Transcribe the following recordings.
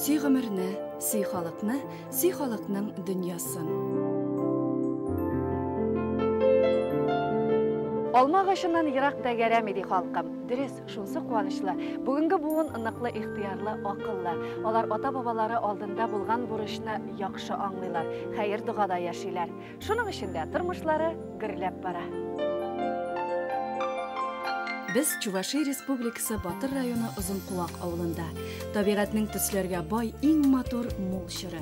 Сый гомерне, сый халыкны, сый халыкның дөньясын. Алма агачыннан ерак тәгәрәми ди халкым. Дөрес, шунсы куанычлы. Бүгенге буын ныклы ихтыярлы, акыллы. Алар ата-бабалары алдында булган бурычны яхшы аңлыйлар, хәер-догада яшиләр. Шуның өчен дә тормышлары гөрләп бара. Без Чуваши Республикасы Батыр районы Озынкуак авылында. Табигатьнең төсләргә бай, иң матур мул чоры.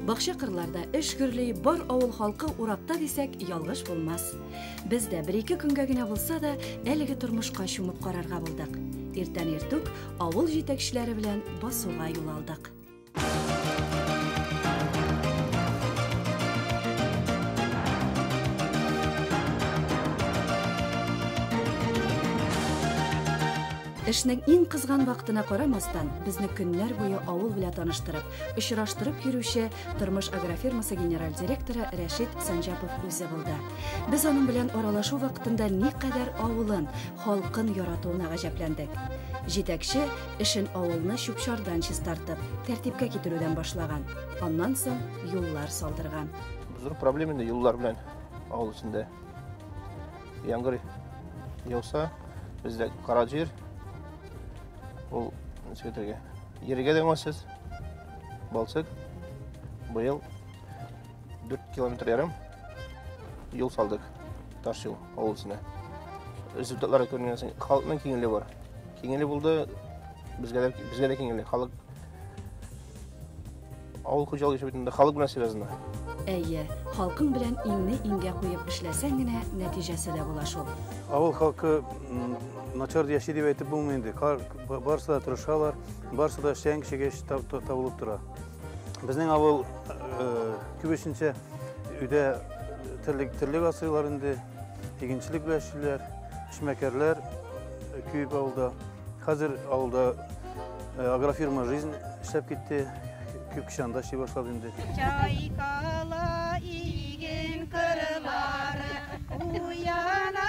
Бакча кырларда эш гөрли, бар авыл халкы уракта дисәк, ялгыш булмас. Без дә бер-ике көнгә генә булса да, әлеге тормышка чумып карарга булдык. Иртән иртүк авыл җитәкчеләре белән басуга юл алдык. Эшнең иң кызган вакытына карамастан, безне көннәр буе авыл белән таныштырып, очраштырып йөрүче Тормыш агрофирмасы генераль директоры Рәшит Санҗапов үзе булды. Без аның белән аралашу вакытында никадәр авылын, халкын яратуына гаҗәпләндек. Җитәкче Эшен авылны чүп-чардан чистартып, тәртипкә китерүдән башлаган. Аннан соң юллар салдырган. Зур проблема инде юллар белән авыл эчендә. Яңгыр яуса, бездә кара җир. Ул ничек әйтергә? Ергә дә уңайсыз. Балчык быел 4 километр ярым юл салдык. Таш юл. авыл эченә. Результатлар күренгән саен халыкның киңлеге бар. Киңлеге булды, безгә дә безгә дә киңлеге. Халык авыл хуҗалыгы эше бөтенләй халык белән связано. Әйе, халкың белән иңне иңгә куеп эшләсәң генә нәтиҗәсе дә була шул. Авыл халкы начар яши дип әйтеп булмый инде. Барысы да тырышалар, барысы да эшләгән кешегә табылып тора. Безнең авыл күбесенчә өйдә терлек терлек асыйлар инде, игенчелек белән эшлиләр, эшмәкәрләр күп авылда. Хәзер авылда агрофирма жизнь эшләп китте, күп кеше анда эшли башлады инде. Чайкала иген кырлары, уяна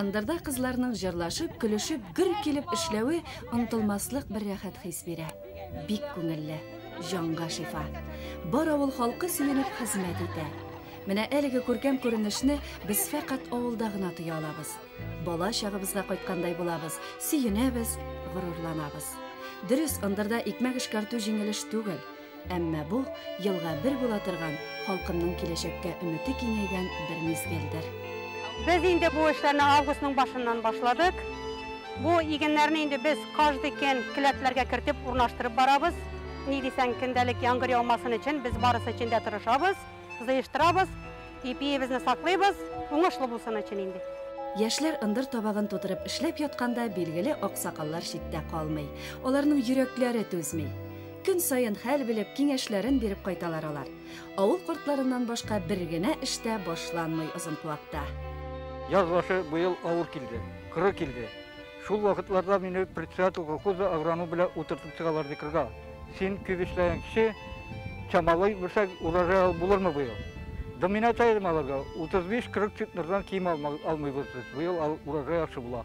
Ындырда кызларның җырлашып, көлешеп, гөр килеп эшләве онтылмаслык бер рәхәт хис бирә. Бик күңелле, җанга шифа. Бар авыл халкы сөенеп хезмәт итә. Менә әлеге күркәм күренешне без фәкать авылда гына тоя алабыз. Бала чагыбызга кайткандай булабыз, сөенәбез, горурланабыз. Дөрес, ындырда икмәк эшкәртү җиңел эш түгел. Әмма бу елга бер була торган, халкымның киләчәккә өмете киңәйгән бер мизгелдер. Без инде бу эшләрне августның башыннан башладык. Бу игеннәрне инде без каждый көн келәтләргә кертеп урнаштырып барабыз. Ни дисәң, көндәлек яңгыр яумасын өчен без барысы өчен дә тырышабыз, зыештырабыз, ипиебезне саклыйбыз, уңышлы булсын өчен инде. Яшьләр ындыр табагын тутырып эшләп ятканда, билгеле, аксакаллар читтә калмый. Аларның йөрәкләре түзми. Көн саен хәл белеп, киңәшләрен биреп кайталар алар. Авыл кортларыннан башка бер генә эштә башланмый озын куакта. Яз башы быел авыр килде, кыры килде. Шул вакытларда мине председатель колхоза агроном белән утыртып чыгалар ди кырга. Син күп эшләгән кеше, чамалый белсәң, урожай алып булырмы быел? Да мин әйтә идем аларга, 35-40 центнердан ким алмыйбыз без, быел урожай яхшы була.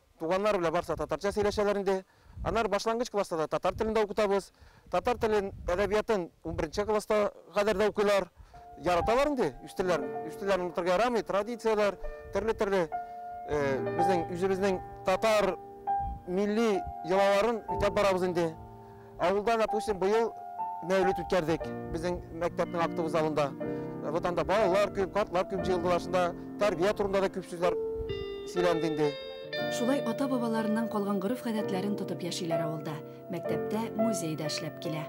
Туганнар белән барса татарча сөйләшәләр инде. Аннары башлангыч класста да татар телендә укытабыз. Татар телен, әдәбиятын унберенче класска кадәр дә укыйлар. Яраталар инде, үз телләрен. Үз телләрен онытырга ярамый, традицияләр, төрле-төрле безнең үзебезнең татар милли йолаларын үтәп барабыз инде. Авылда, допустим, быел мәүлет үткәрдек безнең мәктәпнең актовый залында. Вот анда балалар күп, картлар күп җыелдылар, шунда тәрбия турында да күп сүзләр сөйләнде инде. Шулай ата-бабаларыннан калган гореф-гадәтләрен тотып яшиләр авылда. Мәктәптә, музей дә эшләп килә.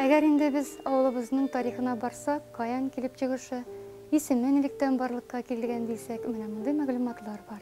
Әгәр инде без авылыбызның тарихына барсак, каян килеп чыгышы, исеме нилектән барлыкка килгән дисәк, менә мондый мәгълүматлар бар.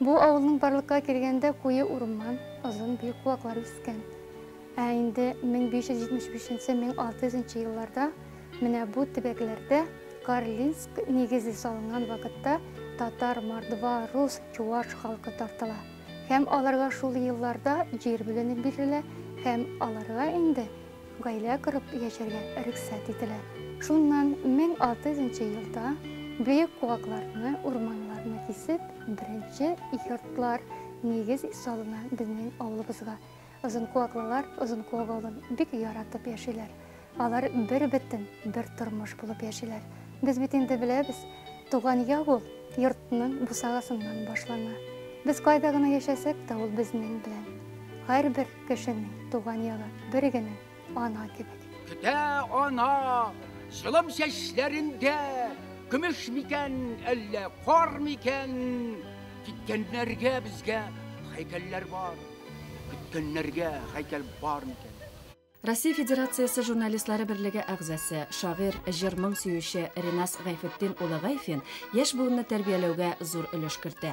Бу авылның барлыкка килгәндә куе урман, озын биек куаклар үскән. Ә инде 1575-1600 нчы елларда менә бу төбәкләрдә Карлинск нигезе салынган вакытта татар, мордва, рус, чуваш халкы тартыла һәм аларга шул елларда җир бүленеп бирелә һәм аларга инде Гаилә корып яшәргә рөхсәт ителә. Шуннан 1600 нчы елда бөек куакларны, урманнарны кисеп, беренче йортлар, нигез салына безнең авылыбызга. Озынкуаклылар Озынкуак авылын бик яратып яшиләр. Алар бер бетен, бер тормыш булып яшиләр. Без бит инде беләбез, туган яу ул йортның бусагасыннан башлана. Без кайда гына яшәсәк тә, ул безнең белән. Һәрбер Кешенең туган ягы бер генә ана кебек. Көтә ана җылым чәчләрендә көмеш микән, әллә кар микән? Киткәннәргә безгә һәйкәлләр бар. Көткәннәргә һәйкәл бар микән? Россия Федерациясе журналистлары берлеге әгъзасы, шагыйрь, җыр-моң сөюче Ринас Гайфетдин улы Гайфин яшь буынны тәрбияләүгә зур өлеш кертә.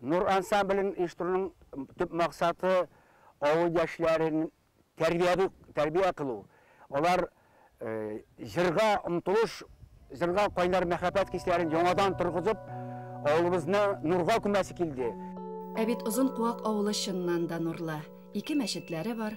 Нур ансамблен оештыруның төп максаты, авыл яшьләрен тәрбияви, тәрбия кылу. Алар җырга омтылыш, җырга кайнар мәхәббәт хисләрен яңадан торгызып, авылыбызны нурга күмәсе килде. Ә бит Озын Куак авылы чыннан да нурлы. Ике мәчетләре бар.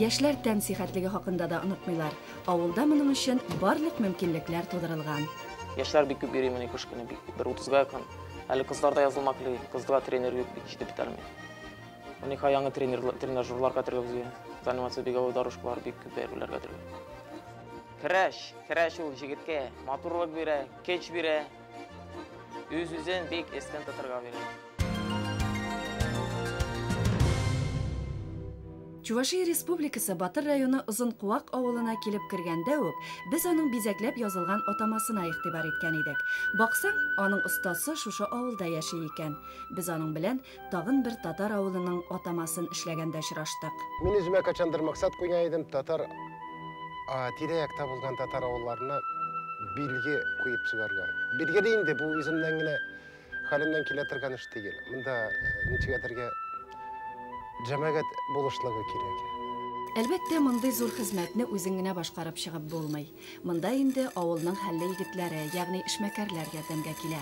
Яшьләр тән сихәтлеге хакында да онытмыйлар. Авылда моның өчен барлык мөмкинлекләр тудырылган. Яшьләр бик күп йөри менә кыш көне бик бер 30-га якын. Әле кызлар да язылмак ли, кызга тренер юк бит, җитеп бетәлми. Уникай яңы тренажерлар кәтергәзү, занимация бик авыр дорожкалар бик күп әйберләр кәтергәзү. Көрәш, көрәш ул җегеткә матурлык бирә, көч бирә, үз-үзен бик эстен тотырга бирә. Чувашия Республикасы Батыр районы Озынкуак авылына килеп кергәндә үк, без аның бизәкләп язылган атамасына игътибар иткән идек. Баксаң, аның остасы шушы авылда яши икән. Без аның белән Тагын бер татар авылының атамасын эшләгәндә очраштык. Мин үземә кайчандыр максат куйган идем, татар тирә-якта булган татар авылларына билге куеп чыгарга. Билгеле инде, бу үземнән генә хәлемнән килә торган эш түгел. Монда ничегәдергә җәмәгать булышлыгы кирәк. Әлбәттә, мондый зур хезмәтне үзең генә башкарып чыгып булмый. Монда инде авылның хәлле егетләре, ягъни эшмәкәрләр ярдәмгә килә.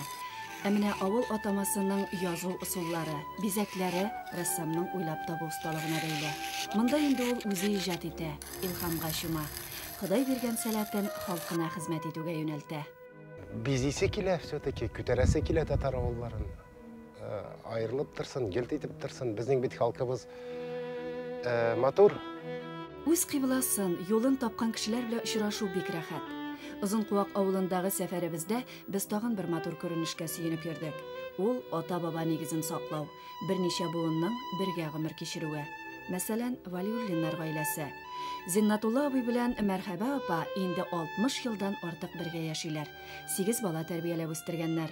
Ә менә авыл атамасының язу ысуллары, бизәкләре рәссамның уйлап табу осталыгына бәйле. Монда инде ул үзе иҗат итә, илһамга чума. Ходай биргән сәләтен халкына хезмәт итүгә юнәлтә. Бизисе килә все-таки, күтәрәсе килә татар авылларын. Айрылып торсын, гелт итеп торсын, безнең бит халкыбыз матур. Үз кыйбласын, юлын тапкан кешеләр белән очрашу бик рәхәт. Озын куак авылындагы сәфәребездә без тагын бер матур күренешкә сөенеп йөрдек. Ул ата-баба нигезен саклау, берничә буынның бергә гомер кичерүе. Мәсәлән, Валиуллиннар гаиләсе. Зиннатулла абый белән Мәрхәбә апа инде 60 елдан артык бергә яшиләр. Сигез бала тәрбияләп үстергәннәр.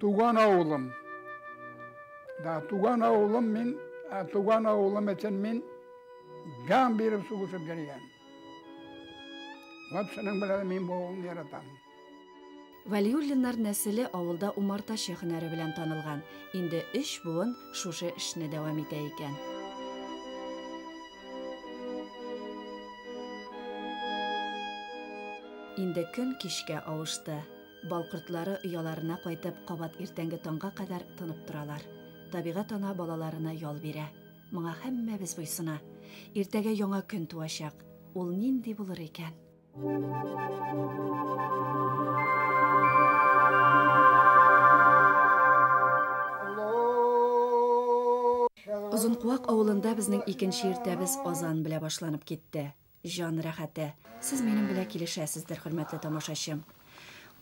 Туган авылым. Да, туган авылым мин, ә туган авылым өчен мин җан биреп сугышып йөргән. Вот шуның белән мин бу авылны яратам. Вәлиуллиннар нәселе авылда умартачы һөнәре белән танылган. Инде өч буын шушы эшне дәвам итә икән. Инде көн кичкә авышты. Бал кортлары ояларына кайтып, кабат иртәнге таңга кадәр тынып торалар. Табигать ана балаларына ял бирә. Моңа һәммәбез буйсына. Иртәгә яңа көн туачак. Ул нинди булыр икән? Озынкуак авылында безнең икенче иртәбез азан белә башланып китте. Җан рәхәте. Сез минем белән килешәсездер, хөрмәтле тамашачым.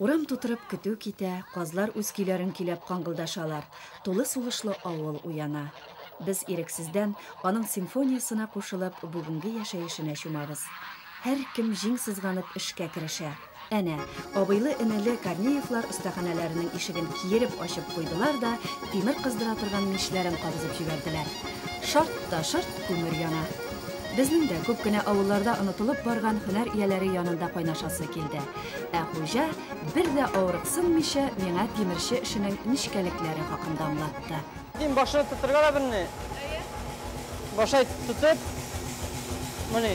Урам тутырып көтү китә, казлар үз көйләрен көйләп каңгылдашалар, тулы сулышлы авыл уяна. Без ирексездән аның симфониясенә кушылып, бүгенге яшәешенә чумабыз. Һәркем җиң сызганып эшкә керешә. Әнә, абыйлы-энеле Корнеевлар остаханәләренең ишеген киереп ачып куйдылар да тимер кыздыра торган мичләрен кабызып җибәрделәр. Шарт та шорт күмер яна. Безнең дә күп кенә авылларда онытылып барган һөнәр ияләре янында кайнашасы килде. Ә хуҗа, бер дә авырыксынмыйча, миңа тимерче эшенең нечкәлекләре хакында аңлатты. Тим башына тотырга да белми. Әйе. Башай тотып, мони.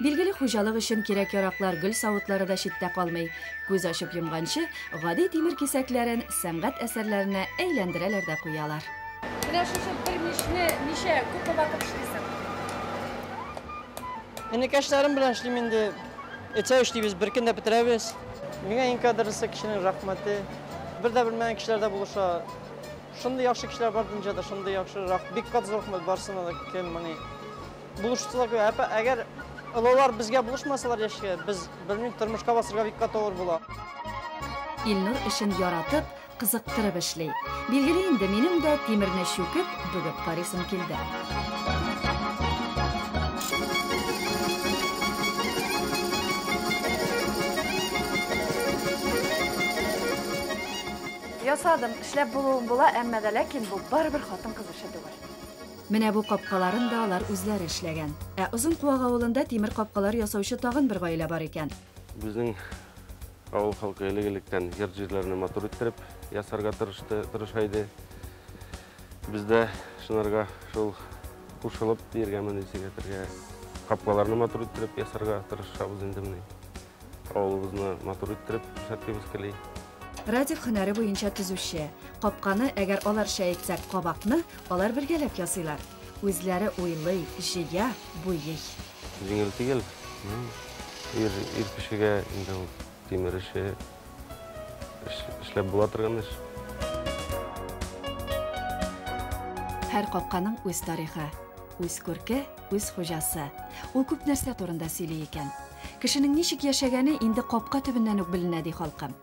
Билгеле, хуҗалык өчен кирәк-яраклар, гөл савытлары да читтә калмый. Күз ачып йомганчы, гади тимер кисәкләрен сәнгать әсәрләренә әйләндерәләр дә куялар. Менә шушы бер мичне ничә күпме вакыт эшлисең? Энекәшләрем белән эшлим инде. Эчә эшлибез, бер көндә бетерәбез. Миңа иң кадерлесе кешенең рәхмәте. Бер дә белмәгән кешеләр дә булыша. Шундый яхшы кешеләр бар дөньяда, шундый яхшы. Бик кат зур рәхмәт барсына да кем, мени. Булышучылар күп. Әпә, әгәр олылар безгә булышмасалар яшькә, без белмим, тормышка басырга бик каты авыр була. Илнур эшен яратып, кызыктырып эшли. Билгеле инде, минем дә тимерне чүкеп, бөгеп карыйсым килде. Ясадым, эшләп булуым була, әмма дә ләкин бу барыбер хатын-кыз эше түгел. Менә бу капкаларын да алар үзләре эшләгән. Ә Озын Куак авылында тимер капкалар ясаучы тагын бер гаилә бар икән. Безнең авыл халкы элек-электән йорт-җирләрне матур иттереп ясарга тырышты, тырыша иде. Без дә шунарга шул кушылып, диергәме, нишләтергә, капкаларны матур иттереп ясарга тырышабыз инде менә. Авылыбызны матур иттереп күрсәткебез кели. Радик һөнәре буенча төзүче. Капканы, әгәр аларча әйтсәк, кабакны алар бергәләп ясыйлар. Үзләре уйлый, җыя, буйый. Җиңел түгел. Ир, ир кешегә инде ул тимер эше эшләп була торган эш. Һәр капканың үз тарихы, үз күрке, Үз хуҗасы. Ул күп нәрсә турында сөйли икән. Кешенең ничек яшәгәне инде капка төбеннән үк беленә, ди халкым.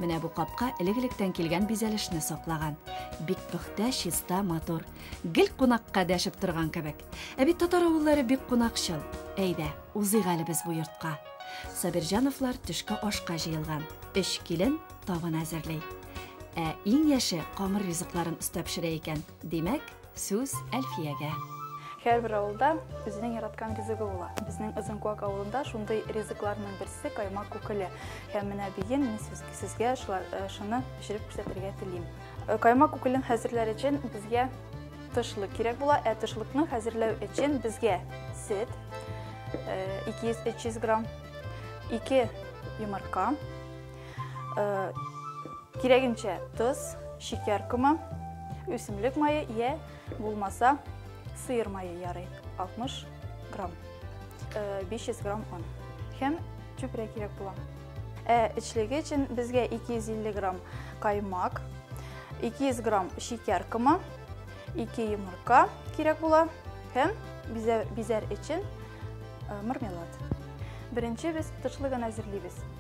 Менә бу капка элек-электән килгән бизәлешне саклаган. Бик пөхтә, чиста, матур. Гел кунакка дәшеп торган кебек. Ә бит татар авыллары бик кунакчыл. Әйдә, узыйк әле без бу йортка. Сабирҗановлар төшке ашка җыелган. Өч килен табын әзерли. Ә иң яше камыр ризыкларын оста пешерә икән. Димәк, сүз Әлфиягә. Һәрбер авылда үзенең яраткан ризыгы була. Безнең Озынкуак авылында шундый ризыкларның берсе каймак күкеле. Һәм менә бүген мин сезгә э, шуны пешереп күрсәтергә телим. Э, каймак күкелен хәзерләр өчен безгә тышлык кирәк була, ә тышлыкны хәзерләү өчен безгә сөт 200-300 э, грамм, 2 йомырка, Э, кирәгенчә тоз, шикәр комы, үсемлек мае я булмаса сыер мае ярый 60 грамм 500 э, грамм он һәм чүпрә кирәк була ә эчлеге өчен безгә 250 грамм каймак 200 грамм шикәр комы 2 йомырка кирәк була һәм бизәр өчен э, мармелад беренче без тышлыгын әзерлибез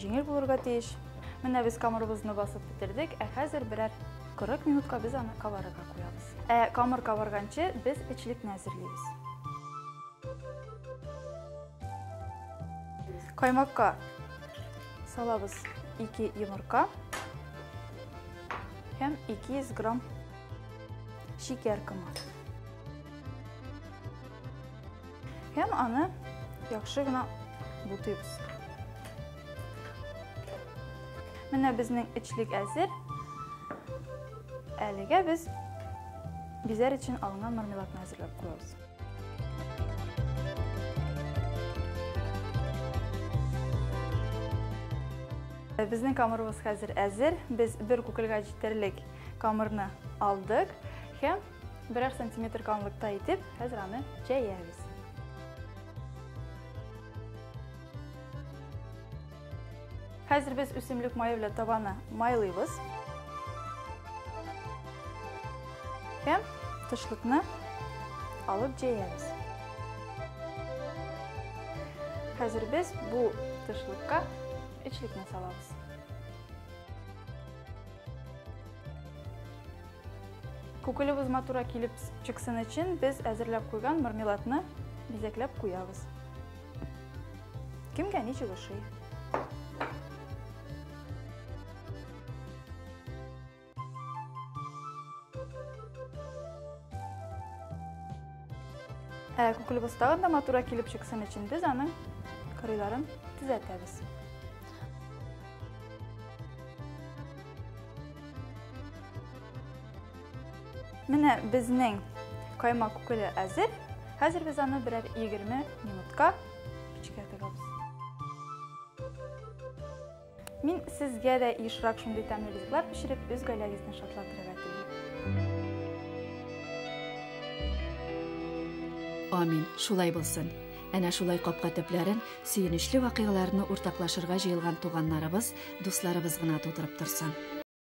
Җиңел булырга тиеш. Менә без камырыбызны басып бетердек, ә хәзер берәр 40 минутка без аны кабарырга куябыз. Ә камыр кабарганчы без эчлекне әзерлибез. Каймакка салабыз 2 йомырка һәм 200 грамм шикәр комы. Һәм аны яхшы гына бутыйбыз. Менә безнең эчлек әзер. Әлегә без бизәр өчен алынган мармеладны әзерләп куябыз. Безнең камырыбыз хәзер әзер. Без бер күкелгә җитәрлек камырны алдык һәм Берәр сантиметр калынлыкта итеп, хәзер аны җәябез. Хәзер без үсемлек мае белән табаны майлыйбыз. Һәм тышлыкны алып җәябез. Хәзер без бу тышлыкка эчлекне салабыз. Күкелебез матура килеп чыксын өчен без әзерләп куйган мармеладны бизәкләп куябыз. Кемгә ничек ошый? Ә күкелебез тагын да матура килеп чыксын өчен без аның кырыйларын төзәтәбез. Менә безнең каймак күкеле әзер. Хәзер без аны берәр 20 минутка печкә тыгабыз. Мин сезгә дә ешрак шундый тәмле ризыклар пешереп, үз гаиләгезне шатландырырга телим. Амин, шулай булсын. Әнә шулай капка төпләрен сөенечле вакыйгаларны уртаклашырга җыелган туганнарыбыз, дусларыбыз гына тутырып торсын.